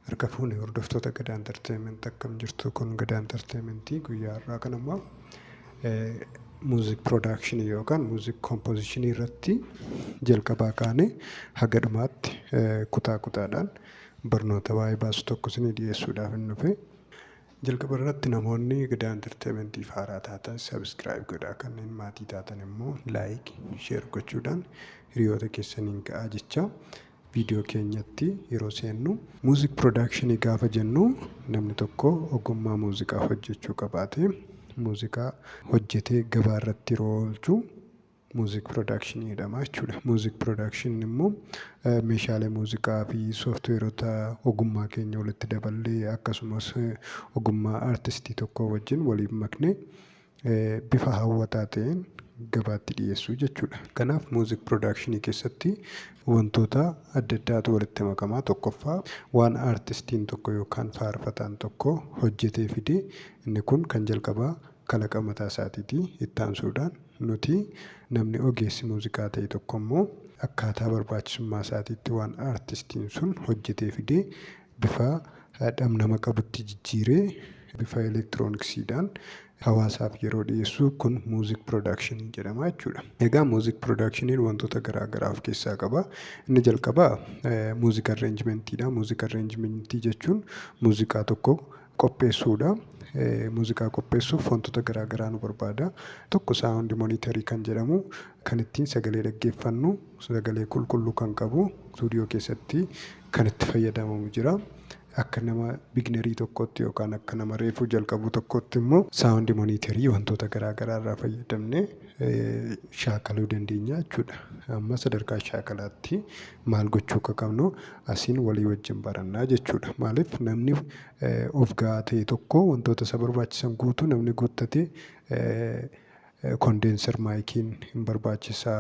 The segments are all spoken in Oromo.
Harka fuune hordoftoota Gadaa Entertainment akkam jirtu kun Gadaa Entertainment guyyaa har'aa kan ammoo muuziik production yookaan muuziik composition irratti jalqabaa kaanee haga dhumaatti kutaa kutaadhaan barnoota waa'ee baasu tokko isinii dhiyeessuudhaaf hin dhufe. Jalqaba irratti namoonni Gida Entertainmentiif haaraa taatan subscribe godhaa kanneen maatii taatan immoo like, share gochuudhaan hiriyoota keessaniin ga'aa jecha viidiyoo keenyatti yeroo seennu. Music production gaafa jennu namni tokko ogummaa muuziqaa hojjechuu qabaatee muuziqaa hojjetee gabaa irratti yeroo oolchu muuziik production jedhama jechuudha. Muuziik production immoo meeshaalee muuziqaa fi sooftiweerota ogummaa keenya walitti daballee akkasumas ogummaa artistii tokkoo wajjin waliin maknee bifa hawwataa ta'een gabaatti dhiyeessuu jechuudha. Kanaaf muuziik production keessatti wantoota adda addaatu walitti makamaa tokkoffaa waan artistiin tokko yookaan faarfataan tokko hojjetee fide inni kun kan jalqabaa kalaqa mataa isaatiiti. Itti aansuudhaan nuti namni ogeessi muuziqaa ta'e tokko immoo akkaataa barbaachisummaa isaatiitti waan artistiin sun hojjetee fide bifa dhamdhama qabutti jijjiiree bifa elektirooniksiidhaan hawaasaaf yeroo dhiyeessu kun muuzik pirodaakshinii jedhama jechuudha. Egaa muuzik pirodaakshiniin wantoota garaa garaa of keessaa qaba. Inni jalqabaa muuzik arreenjimentiidha. Muuzik arreenjimentii jechuun muuziqaa tokko qopheessuudha. Muuziqaa qopheessuuf wantoota garaa garaa nu barbaada. Tokko saawundi monitarii kan jedhamu kan ittiin sagalee dhaggeeffannu sagalee qulqulluu kan qabu istuudiyoo keessatti kan itti fayyadamamu jira. Akka nama biginarii tokkootti yookaan akka nama reefuu jalqabuu tokkootti immoo saawundi monitarii wantoota garaa garaa irraa fayyadamnee shaakaluu dandeenya jechuudha. Amma sadarkaa shaakalaatti maal gochuu akka qabnu asiin walii wajjin baranna jechuudha. Maaliif namni of ga'aa ta'e tokko wantoota isa barbaachisan guutuu namni guuttate kondeenser maayikiin hin barbaachisa.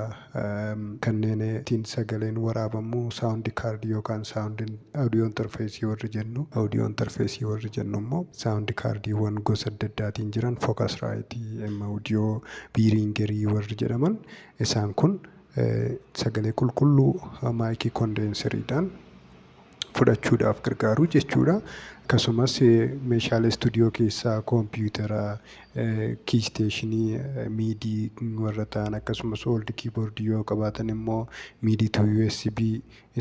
Kanneen ittiin sagaleen waraabamu saawundi kaardii yookaan saawundi awudiyoo interfeesii warri jennu awudiyoo interfeesii warri jennu immoo saawundi kaardiiwwan gosa adda addaatiin jiran fookas raayitii, M awudiyoo, biiriingerii warri jedhaman isaan kun sagalee qulqulluu maayikii kondeenseriidhaan fudhachuudhaaf gargaaru jechuudha. Akkasumas meeshaalee istuudiyoo keessaa koompiyuutera, kiisteeshinii, miidii warra ta'an akkasumas ooldi kiiboordii yoo qabaatan immoo miidii tuu USB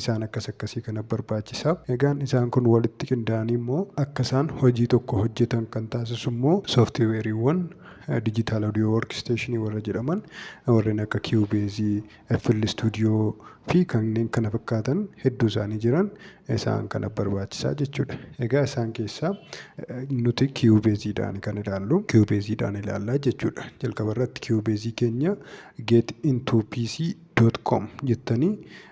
isaan akkas akkasii kana barbaachisa. Egaan isaan kun walitti qindaa'anii immoo akka isaan hojii tokko hojjetan kan taasisu immoo sooftiweeriiwwan Digital Audio Workstation warra jedhaman warreen akka Cubase, FL Studio fi kanneen kana fakkaatan hedduu isaanii jiran isaan kana barbaachisaa jechuudha. Egaa isaan keessaa nuti Cubase dhaan kan ilaallu Cubase dhaan ilaallaa jechuudha. Jalqaba irratti Cubase keenya get into pc.com jettanii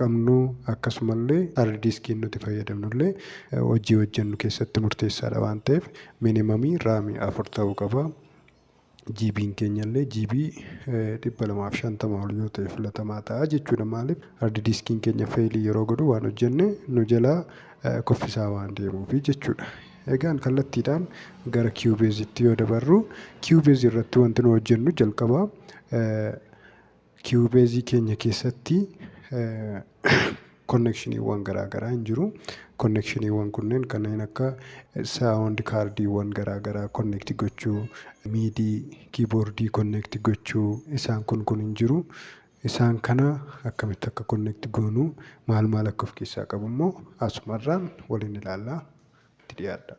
qabnu akkasumallee hard diskiin nuti fayyadamnullee hojii hojjennu keessatti murteessaadha waan ta'eef minimum RAM afur ta'uu qaba. GB'n keenyallee GB 250 ol yoo ta'e filatamaa ta'a jechuudha. Maaliif hard diskiin keenya feelii yeroo godhu waan hojjenne nu jalaa kuffisaa waan deemuufi jechuudha. Egaan kallattiidhaan gara Cubase-tti yoo dabarru Cubase irratti wanti nu hojjennu jalqaba Kiiwubeezii keenya keessatti konnekshiniiwwan garaa garaa hin jiru. Konnekshiniiwwan kunneen kanneen akka saawundi kaardiiwwan garaa garaa konnekti gochuu, miidii, kiiboordii konnekti gochuu isaan kun kun hin jiru. Isaan kana akkamitti akka konnekti goonu maal maal akka of keessaa qabu immoo asumarraan waliin ilaalla. Itti dhiyaadhaa.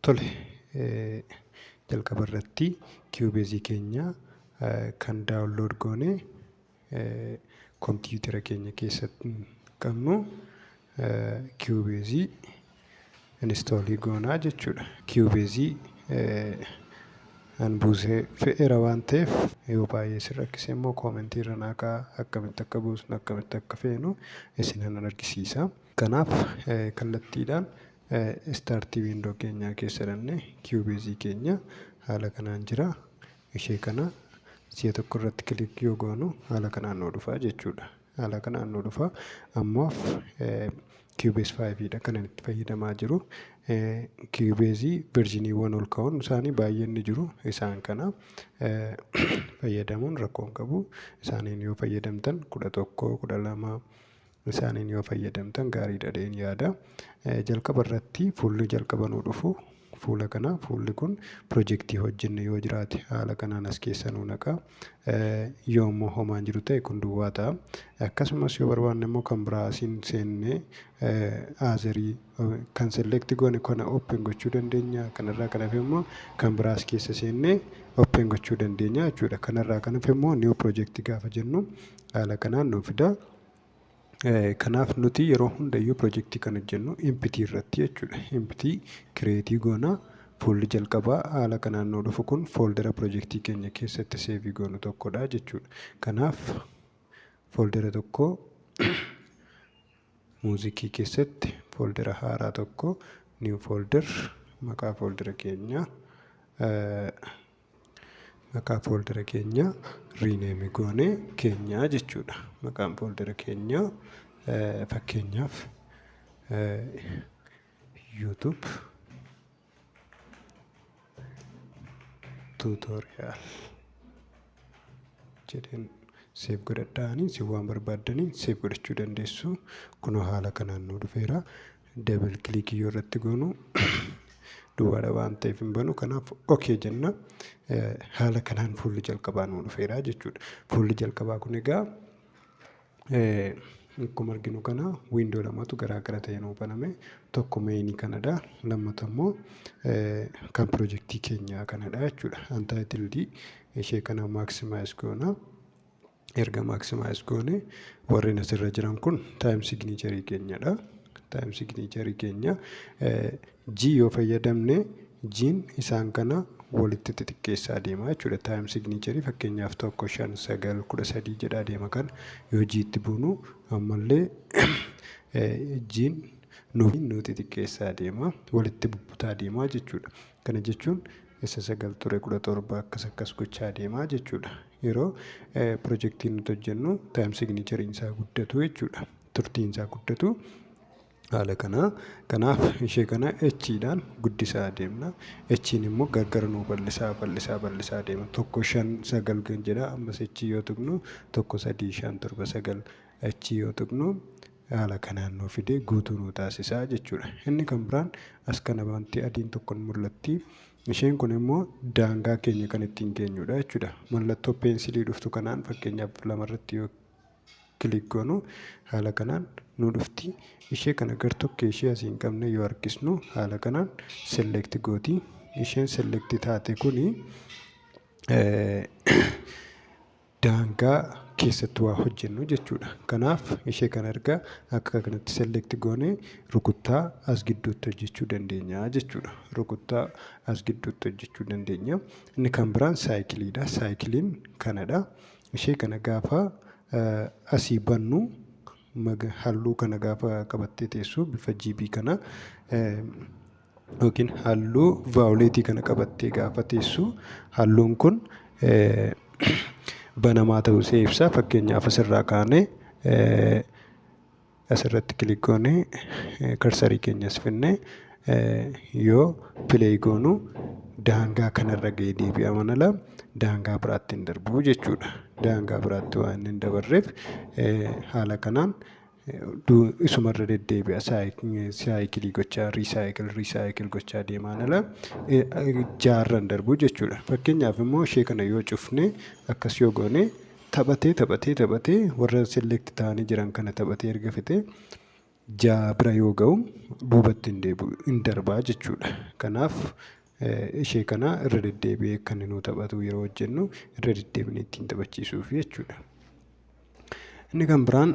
Tole, jalqaba irratti Cubase keenya kan download goone kompiitara keenya keessatti qabnu Cubase install goonaa jechuudha. Cubase an buusee fe'eera waan ta'eef yoo baay'ee isin rakkise immoo koomentii irra naa kaa'aa akkamitti akka buusnu akkamitti akka feenu isinan argisiisa. Kanaaf kallattiidhaan start window keenyaa keessa dhannee Cubase keenya haala kanaan jira. Ishee kana si'a tokko irratti click yoo goonu haala kanaan nuu dhufa jechuudha. Haala kanaan nuu dhufa. Ammaaf Cubase 5 dha kanan itti fayyadamaa jiru. Cubase versioniiwwan ol ka'oon isaanii baay'een ni jiru. Isaan kana fayyadamuun rakkoo hin qabu. Isaaniin yoo fayyadamtan kudha tokko, kudha lama isaaniin yoo fayyadamtan gaarii dhadheen yaada. Jalqaba irratti fuulli jalqaba nuu dhufu fuula kana fuulli kun pirojektii hojjenne yoo jiraate haala kanaan as keessa nuu naqa. Yoo immoo homaan jiru ta'e kun duwwaa ta'a. Akkasumas yoo barbaanne immoo kan biraa asiin seennee aazarii kan select goone kana open gochuu dandeenya. Kanarraa kan hafe immoo kan biraa as keessa seennee open gochuu dandeenya jechuudha. Kanarraa kan hafe immoo new project gaafa jennu haala kanaan nuu fida. Kanaaf nuti yeroo hundayyuu pirojektii kan hojjennu empty irratti jechuudha. Empty create goona. Fuulli jalqabaa haala kanaan nuu dhufu kun fooldera pirojektii keenya keessatti seevii goonu tokkodha jechuudha. Kanaaf fooldera tokko muuziikii keessatti fooldera haaraa tokko new folder maqaa fooldera keenyaa maqaa fooldara keenyaa riineemi goone keenyaa jechuudha. Maqaan fooldara keenyaa fakkeenyaaf YouTube tutorial jedheen seef godhadhaanii si waan barbaaddaniin seef godhachuu dandeessu. Kunoo haala kanaan nu dhufeera. Double click yoo irratti goonu duwwaadha waan ta'eef hin banu. Kanaaf okay jenna. Haala kanaan fuulli jalqabaa nuu dhufeera jechuudha. Fuulli jalqabaa kun egaa akkuma arginu kana wiindoo lamatu garaa gara ta'e nuu baname. Tokko meeyinii kanadha. Lammata immoo kan pirojektii keenyaa kanadha jechuudha. Untitled ishee kana maximize goona. erga maximize goone warri asirra jiran kun time signature keenyadha. time signature keenya G yoo fayyadamne G'n isaan kana walitti xixiqqeessaa deema jechuudha. time signature fakkeenyaaf tokko shan sagal kudha sadii jedhaa deema kana yoo G itti buunu ammallee G'n nuuf nu xixiqqeessaa deema walitti bubbutaa deema jechuudha. Kana jechuun isa sagal ture kudha torba akkas akkas gochaa deemaa jechuudha. Yeroo pirojektii nuti hojjennu taayim siginichariin isaa guddatu jechuudha. Turtiin isaa guddatu haala kanaa. Kanaaf ishee kana echiidhaan guddisaa deemna. Echiin immoo gargar nuu bal'isaa bal'isaa bal'isaa deema. Tokko shan sagal kan jedha ammas echii yoo tuqnu tokko sadii shan torba sagal echii yoo tuqnu haala kanaan nuu fidee guutuu nuu taasisa jechuudha. Inni kan biraan as kana wanti adiin tokko ni mul'atti. Isheen kun immoo daangaa keenya kan ittiin geenyudha jechuudha. Mallattoo peensilii dhuftu kanaan fakkeenyaaf lamarratti yoo kilik goonu haala kanaan nu dhufti. Ishee kana gar tokkee ishee asiin qabne yoo harkisnu haala kanaan select gooti. Isheen select taate kuni daangaa keessatti waa hojjennu jechuudha. Kanaaf ishee kana erga akka kanatti select goone rukuttaa as gidduutti hojjechuu dandeenya jechuudha. Rukuttaa as gidduutti hojjechuu dandeenya. Inni kan biraan saayikiliidha. Saayikiliin kanadha. Ishee kana gaafa asii bannu halluu kana gaafa qabattee teessu bifa GB kana yookiin halluu vaawuleetii kana qabattee gaafa teessu halluun kun banamaa ta'uu ishee ibsa. Fakkeenyaaf asirraa kaanee asirratti kilik goonee karsarii keenya as finnee yoo pileey goonu daangaa kanarra ga'ee deebi'a mana laa daangaa biraatti hin darbu jechuudha. Daangaa biraatti waan hin dabarreef haala kanaan isuma irra deddeebi'a saayikilii gochaa riisaayikil riisaayikil gochaa deemaan ala jaarra hin darbu jechuudha. Fakkeenyaaf immoo ishee kana yoo cufne akkas yoo goone taphatee taphatee taphatee warra select ta'anii jiran kana taphatee erga fixee ja'a bira yoo ga'u duubatti hin deebi'u hin darbaa jechuudha. Kanaaf ishee kana irra deddeebi'ee akka inni nuu taphatu yeroo hojjennu irra deddeebinee ittiin taphachiisuuf jechuudha. Inni kan biraan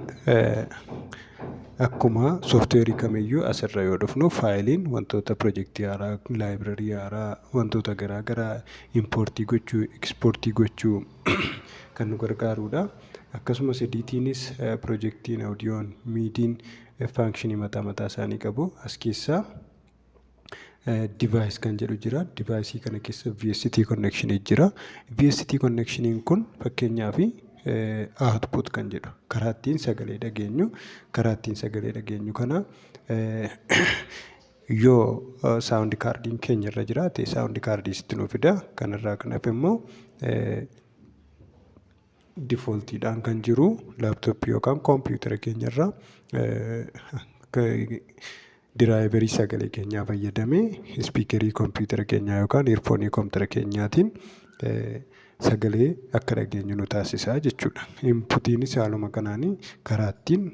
akkuma sooftiweerii kamiyyuu asirra yoo dhufnu faayiliin wantoota pirojektii haaraa, laayibirarii haaraa, wantoota garaa garaa impoortii gochuu, ekspoortii gochuu kan nu gargaarudha. Akkasumas ediitiinis pirojektiin, oodiyoon, miidiin faankishinii mataa mataa isaanii qabu. As keessaa... device kan jedhu jira. Device kana keessa VST connection jira. VST connection kun fakkeenyaaf output kan jedhu karaa ittiin sagalee dhageenyu karaa ittiin sagalee dhageenyu kana yoo sound kaardiin keenya irra jiraate sound kaardii sitti nu fida. Kanarraa kan hafe immoo difooltiidhaan kan jiru laaptooppii yookaan koompiyuutara keenyarra diraayiverii sagalee keenyaa fayyadamee ispiikerii koompiyuutara keenyaa yookaan eerfoonii koompiyuutara keenyaatiin sagalee akka dhageenyu nu taasisa jechuudha. Inputiinis haaluma kanaan karaa ittiin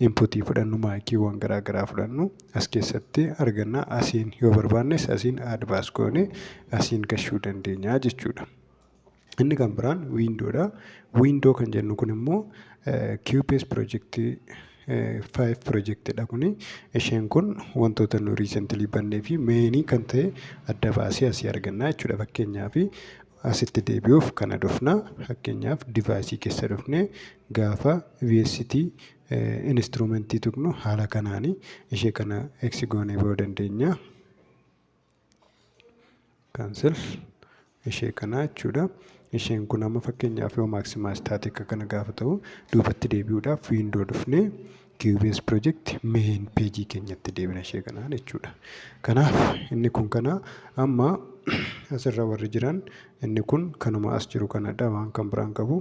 inputii fudhannu maayikiiwwan garaa garaa fudhannu as keessatti arganna. Asiin yoo barbaannes asiin aad baas goonee asiin gahuu dandeenya jechuudha. Inni kan biraan wiindoodha. Wiindoo kan jennu kun immoo QPS pirojektii 5 pirojektiidha kuni. Isheen kun wantoota nu riisentilii bannee fi meenii kan ta'e adda baasee asii arganna jechuudha. Fakkeenyaaf asitti deebi'uuf kana dhufna. Fakkeenyaaf divaayisii keessa dhufnee gaafa VST instrumentii tuqnu haala kanaani ishee kana eksi goonee ba'uu dandeenya. kaansel ishee kanaa jechuudha. Isheen kun amma fakkeenyaaf yoo maaksimaas taate akka kana gaafa ta'u duubatti deebi'uudhaaf wiindoo dhufnee QBS project main page keenyatti deebina ishee kanaan jechuudha. Kanaaf inni kun kana amma asirra warri jiran inni kun kanuma as jiru kanadha waan kan biraan qabu.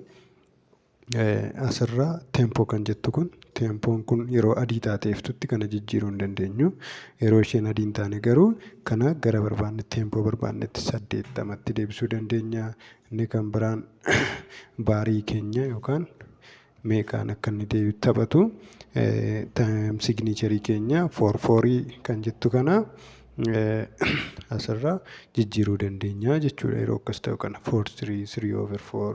Asirraa tempo kan jettu kun tempoon kun yeroo adii taatee iftutti kana jijjiiruu hin dandeenyu. Yeroo isheen adii hin taane garuu kana gara barbaanne tempo barbaannetti saddeettamatti deebisuu dandeenya. Inni kan biraan baarii keenya yookaan meeqaan akka inni deebi taphatu time signature keenya four four kan jettu kana asirraa jijjiiruu dandeenya jechuudha yeroo akkas ta'u kana foor sirii sirii over foor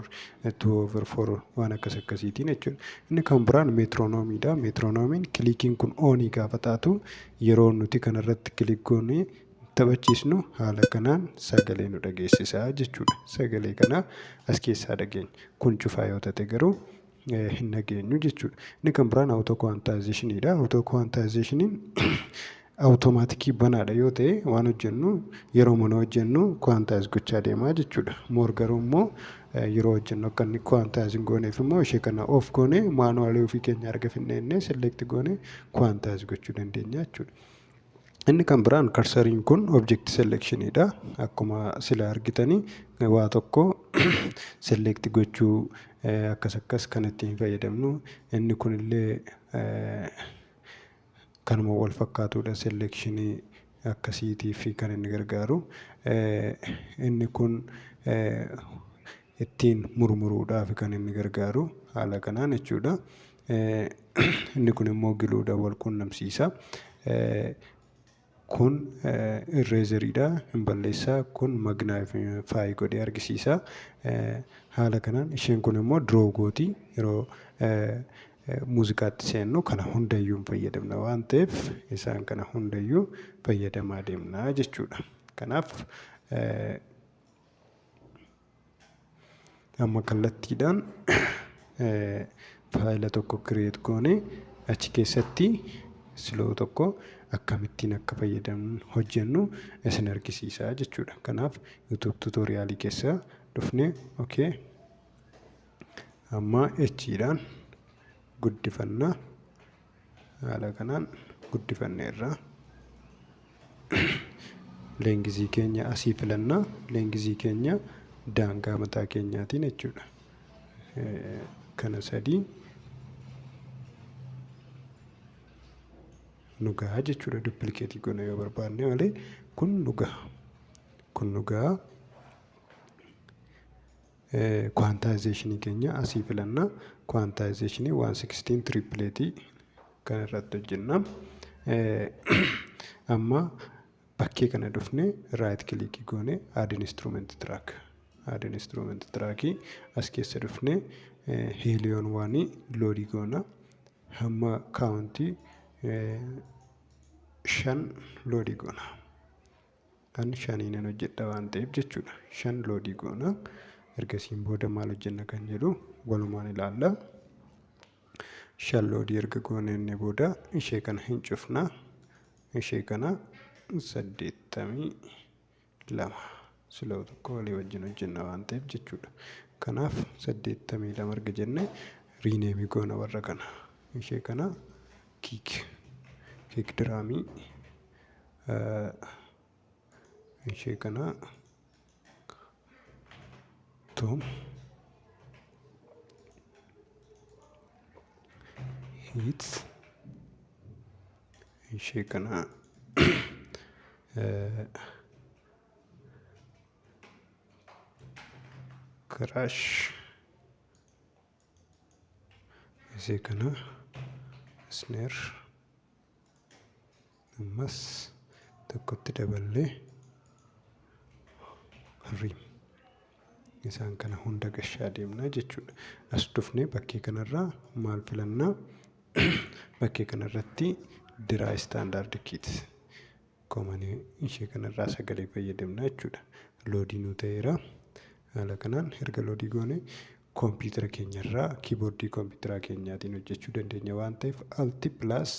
tuu over foor waan akkas akkasiitiin jechuudha inni kan biraan meetiroonomiidha meetiroonomiin kiliikiin kun oonii gaafa taatu yeroo nuti kanarratti kiliik goonee taphachiisnu haala kanaan sagalee nu dhageessisaa jechuudha sagalee kana as keessaa dhageenya kun cufaa yoo ta'e garuu hin dhageenyu jechuudha. Inni kan biraan awutookuwaantaayizeeshiniidha. Awutookuwaantaayizeeshiniin awutomaatikii banaadha yoo ta'e waan hojjennu yeroo mana hojjennu kuwaantaayiz gochaa deemaa jechuudha. Moor garuu immoo yeroo hojjennu akka inni kuwaantaayiz hin gooneef immoo ishee kana of goone maanuwaalii ofii keenya erga finneennee selekti goone kuwaantaayiz gochuu dandeenya jechuudha. Inni kan biraan karsariin kun object selection dha. Akkuma sila argitanii waa tokko select gochuu akkas akkas kan itti hin fayyadamnu. Inni kun illee kanuma wal fakkaatudha selection akkasiitiif kan inni gargaaru. Inni kun ittiin murmuruudhaaf kan inni gargaaru haala kanaan jechuudha. Inni kun immoo giluudhaan wal qunnamsiisa. Kun irreezeriidha hin balleessa. Kun magnaayifaayi godhee argisiisa. Haala kanaan isheen kun immoo diroo gooti. Yeroo muuziqaatti seennu kana hundayyuu hin fayyadamna waan ta'eef isaan kana hundayyuu fayyadamaa deemna jechuudha. Kanaaf amma kallattiidhaan faayila tokko kireet goone achi keessatti siloo tokko akkamittiin akka fayyadamnu hojjennu isin argisiisaa jechuudha kanaaf yuutuub tuutooriyaalii keessa dhufne okay amma echiidhaan guddifanna haala kanaan guddifanneerra. Leengizii keenya asii filannaa leengizii keenya daangaa mataa keenyaatiin jechuudha. Kana sadii nu gahaa jechuudha duppilikeetii goona yoo barbaanne malee kun nu gaha. Kun nu gaha. Quantization keenya asii filanna. Quantization 116 triplet kan irratti hojjenna. Amma bakkee kana dhufne right click goone add instrument track. Add instrument track as keessa dhufne helion waan load goona. Hamma kaawuntii shan load goona. an shanii nan hojjedha waan ta'eef jechuudha. Shan loodii goona. Ergasiin booda maal hojjenna kan jedhu walumaan ilaalla. Shan loodii erga goonee booda ishee kana hin cufna. Ishee kana saddeettamii lama siloo tokko walii wajjin hojjenna waan ta'eef jechuudha. Kanaaf saddeettamii lama erga jenne riineemii goona warra kana. Ishee kana kiik kiik diraamii ishee kana tu hit ishee kana crash isii kana isneer ammas tokkotti daballee riim isaan kana hunda gashaa deemna jechuudha as dhufnee bakkee kanarraa maal filannaa bakkee kanarratti diraa istaandaard kiit koomanii ishee kanarraa sagalee fayyadamna jechuudha loodii nuu ta'eera haala kanaan erga loodii goone Kompiitara keenya irraa kiiboordii kompiitaraa keenyaatiin hojjechuu dandeenya waan ta'eef alti plus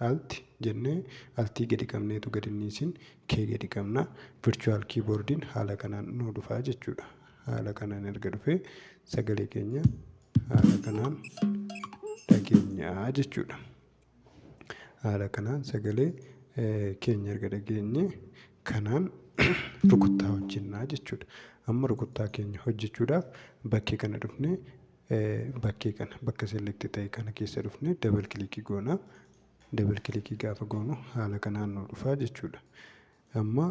alti jennee altii gadi qabneetu gadi niisin kee gadi qabna virtual kiiboordiin haala kanaan nu dhufaa jechuudha haala kanaan erga dhufee sagalee keenya haala kanaan dhageenyaa jechuudha. Haala kanaan sagalee keenya erga dhageenye kanaan rukuttaa hojjennaa jechuudha. Amma rukuttaa keenya hojjechuudhaaf bakkee kana dhufne bakkee kana bakka selekti ta'e kana keessa dhufne dabal kilikii goona. Dabal kilikii gaafa goonu haala kanaan nu dhufaa jechuudha. Amma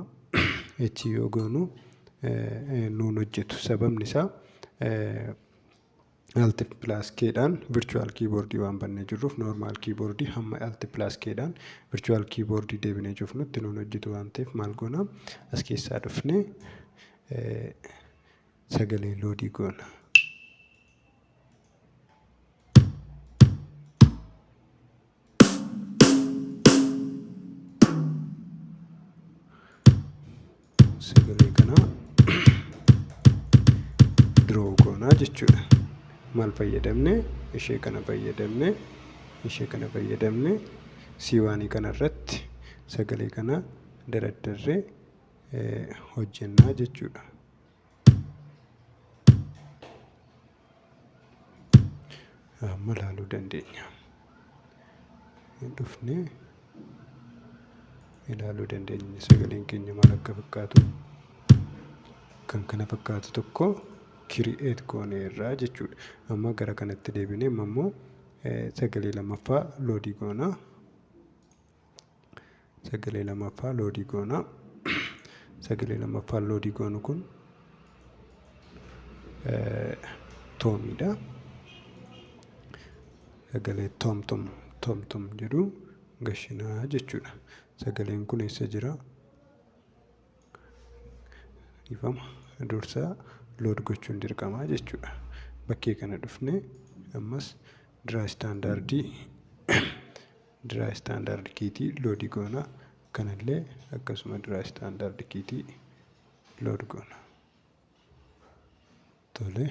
achi yoo goonu nuun hojjetu sababni isaa Alt plus K dhaan virtual keyboard waan bannee jirruuf normal keyboard hamma Alt plus K dhaan virtual keyboard deebinee cufnutti nuun hojjetu waan ta'eef maal goona as keessaa dhufne sagalee loodii goona. sagalee kanaa diroo goonaa jechuudha. Maal fayyadamne? Ishee kana fayyadamne. Ishee kana fayyadamne. Siiwaanii kana irratti sagalee kana daraddarree hojjennaa jechuudha. Amma ilaaluu dandeenya. Hin dhufne ilaaluu dandeenya sagaleen keenya maal akka fakkaatu. Kan kana fakkaatu tokko kiri'eet goonee irraa jechuudha. Amma gara kanatti deebinee amma immoo sagalee lammaffaa loodii goona. sagalee lammaffaa loodii goona sagalee lammaffaa loodii goonu kun toomiidha sagalee toomtom toomtom jedhu gashinaa jechuudha sagaleen kun eessa jira ifama dursaa lood gochuun dirqamaa jechuudha bakkee kana dhufne ammas diraa istaandaardii dry standard kiitii loadii goona kanallee akkasuma dry standard kiitii load goona tole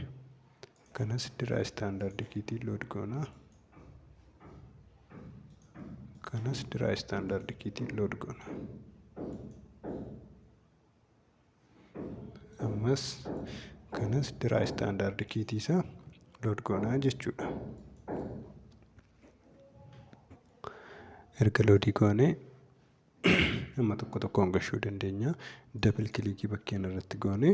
kanas dry standard kiitii load goona kanas dry standard kiitii load goona ammas kanas diraa istaandaardi kiitii isaa load goonaa jechuudha. Erga loodii goonee amma tokko tokkoon gashuu dandeenya. Dabal kilikii bakkeen irratti goonee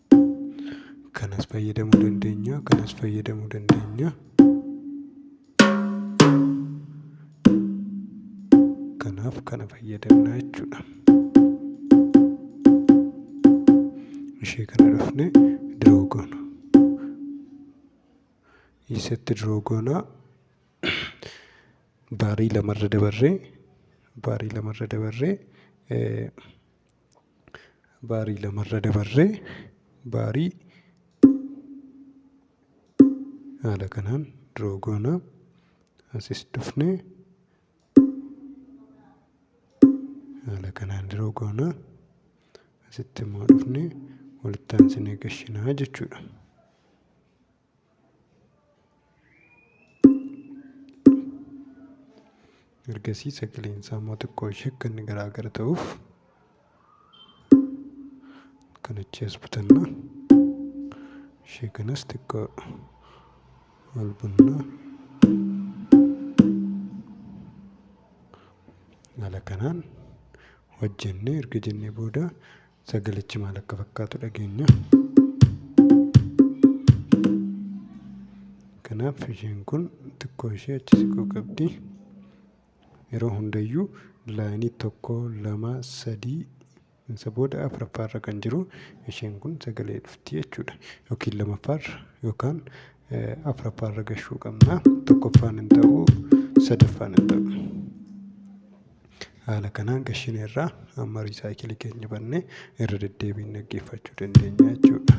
kanas fayyadamuu dandeenya kanas fayyadamuu dandeenya kanaaf kana fayyadamna jechuudha ishee kana dhufne diroo goona isatti diroo goona baarii lamarra dabarree baarii lamarra dabarree eh, baarii lamarra dabarree baarii haala kanaan diroo goona asis dhufne haala kanaan diroo goona asitti immoo dhufne walitti aansinee gashinaa jechuudha. ergasii sagaleen isaa immoo xiqqoo ishee akka inni garaa gara ta'uuf kan achi as butanna ishee kanas xiqqoo ol bunna haala kanaan hojjennee erga jennee booda Sagalichi maal akka fakkaatu dhageenya. Kanaaf isheen kun xiqqoo ishee achi siquu qabdi. Yeroo hundayyuu laayinii tokko, lama, sadii isa booda afuraffaarra kan jiru isheen kun sagalee dhufti jechuudha. Yookiin lamaffaarra yookaan afuraffaarra gahuu qabna. Tokkoffaan hin ta'u, sadaffaan hin ta'u. Haala kanaan gashine irraa amma riisaayikilii keenya bannee irra deddeebiin dhaggeeffachuu dandeenya jechuudha.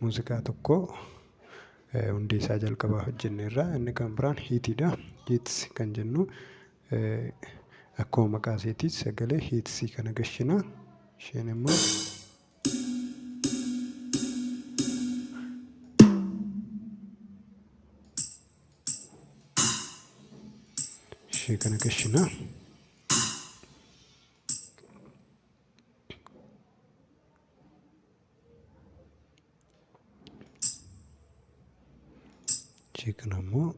Muuziqaa tokko eh, hundee isaa jalqabaa hojjenne irraa inni kan biraan hiitiidha. Hiits kan jennu eh, akkuma maqaa isheetii sagalee hiitsii kana gashina. Isheen immoo ishee kana qishina ishee kana immoo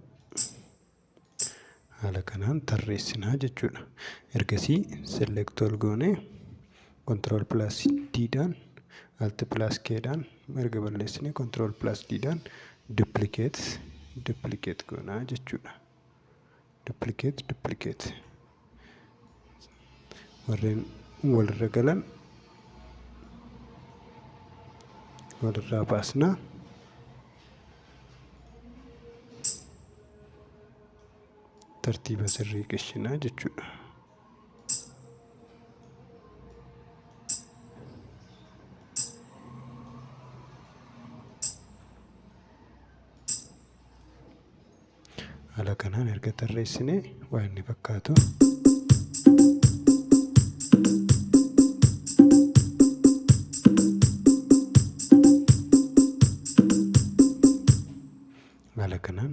haala kanaan tarreessinaa jechuudha ergasii select all goonee Control plus D dhaan Alt plus K dhaan erga balleessine Control plus D dhaan duplicate duplicate goonaa jechuudha. Duplicate duplicate warreen walirra galan walirraa baasna. Tartiiba sirrii qishinaa jechuudha. haala kanaan erga tarreessine waan inni fakkaatu haala kanaan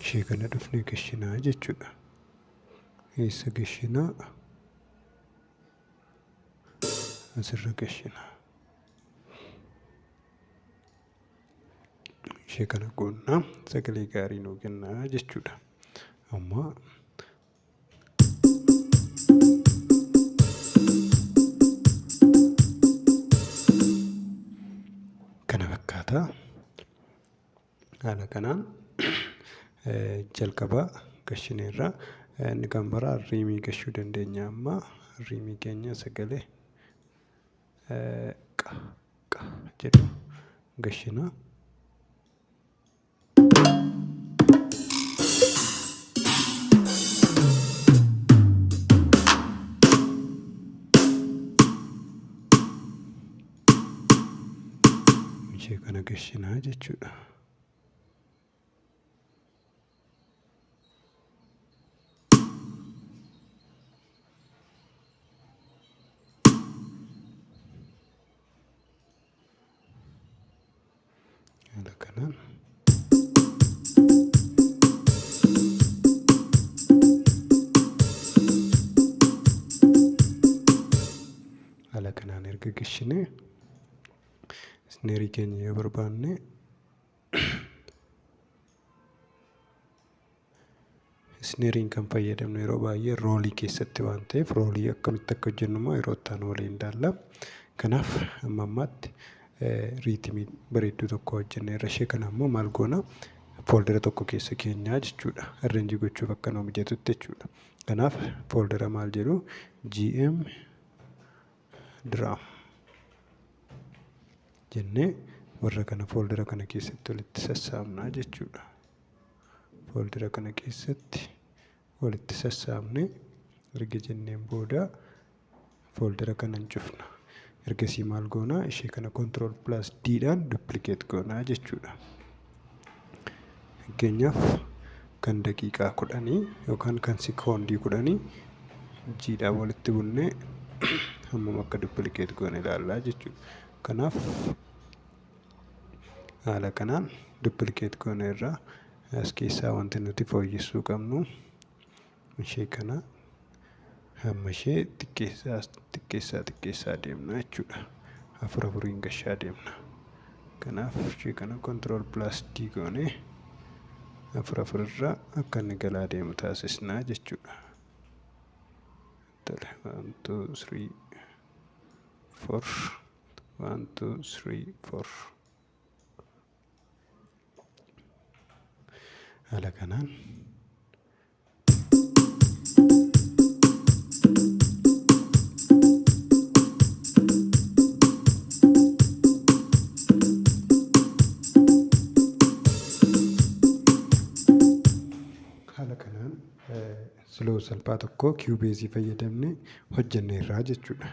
ishee kana dhufnee gashinaa jechuudha. Eessa gashinaa? Asirra gashinaa. Ishee kana goonnaa sagalee gaarii nuu kennaa jechuudha. Amma kana fakkaata haala kanaan jalqaba gashineerra inni kan biraa riimii gashuu dandeenya amma riimii keenya sagalee qa qa jedhu gashina ishee kana gashinaa jechuudha. Haala kanaan. Haala kanaan erga gashinee isneerii keenya yoo barbaanne Isneeriin kan fayyadamnu yeroo baay'ee roolii keessatti waan ta'eef roolii akkamitti akka hojjennu immoo yeroo itti aanu waliin ilaalla. Kanaaf amma ammaatti riitimii bareedduu tokko hojjenneerra. Ishee kana immoo maal goona? Fooldera tokko keessa keenyaa jechuudha. Arreenjii gochuuf akka nuu mijatutti jechuudha. Kanaaf fooldera maal jedhu GM diraam jennee warra kana fooldera kana keessatti walitti sassaabnaa jechuudha. fooldara kana keessatti walitti sassaabne erga jenneen booda fooldara kana hin cufna. Ergasii maal goona? Ishee kana control plus D dhaan duplicate goona jechuudha. Fakkeenyaaf kan daqiiqaa kudhanii yookaan kan sekoondii kudhanii G dhaan walitti bunnee hammam akka duplicate goone ilaallaa jechuudha. Kanaaf haala kanaan dupilikeet goona irraa as keessaa wanti nuti fooyyessuu qabnu ishee kana hamma ishee xiqqeessaa xiqqeessaa xiqqeessaa deemna jechuudha afur afuriin gashaa deemna kanaaf ishee kana kontirool pilaas dii goone afur afur irraa akka inni galaa deemu taasisnaa jechuudha tole 1 2 3 4 One, two, three, four. Haala kanaan haala kanaan siloo salphaa tokko kiiwubeezii fayyadamne hojjenneerraa jechuudha.